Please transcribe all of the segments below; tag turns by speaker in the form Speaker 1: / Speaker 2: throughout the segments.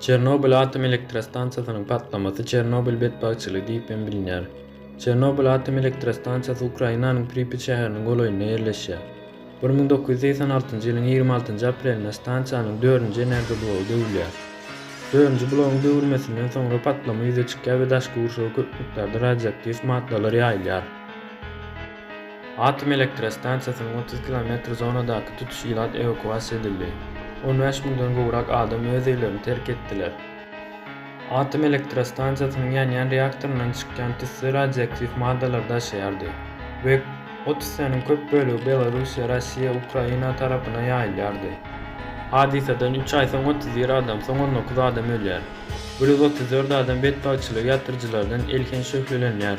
Speaker 1: Çernobyl atom elektrostansiýasynyň patlamasy Çernobyl betbagtçylygy diýip hem bilinýär. Çernobyl atom elektrostansiýasy Ukrainanyň Pripýat şäheriniň golaýynda ýerleşýär. Bir müň dokuz ýüz segsen altynjy ýylyň ýigrimi altynjy aprelinde stansiýanyň dördünji energiýa blogy döwülýär. Dördünji blogyň döwülmesinden soňra patlama ýüze çykýar we daşky gurşawa köp mukdarda radioaktiw maddalar ýaýylýar. Atom elektrostansiýasynyň otuz kilometr zonadaky tutuş ilat ewakuasiýa edildi. On bäş müňden gowrak adam öz öýlerini terk etdiler. Atom elektrostansiýasynyň ýanýan reaktoryndan çykýan tüsse radioaktiw maddalary daşaýardy we o tüssäniň köp bölegi Belarussiýa, Rossiýa, Ukraina tarapyna ýaýylýardy. Hadysadan üç aý soň otuz bir adam, soň on dokuz adam ölýär. Bir ýüz otuz dört adam betbagtçylygy ýatyryjylardan elhenç şöhlelenýär.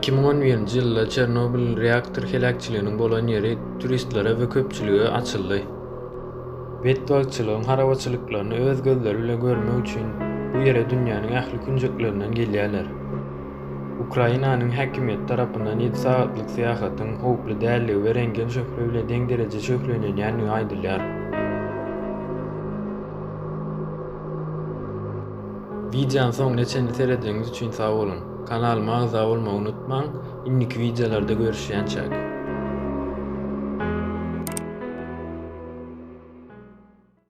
Speaker 1: Iki müň on birinji ýylda Çernobil reaktor heläkçiliginiň bolan ýeri turistlere we köpçülige açyldy. Betbagtçylygyň harabaçylyklaryny öz gözleri bilen görmek üçin bu ýere dünýäniň ähli künjeklerinden gelýärler. Ukrainanyň häkimiýeti tarapyndan ýedi sagatlyk syýahatyň howply däldigi we rentgen şöhle bilen deň derejede şöhlelenýändigi aýdylýar. Wideonyň soňuna çenli seredeniňiz üçin sag boluň! Kanalyma agza bolmagy unutmaň! Indiki wideolarda görüşýänçäk.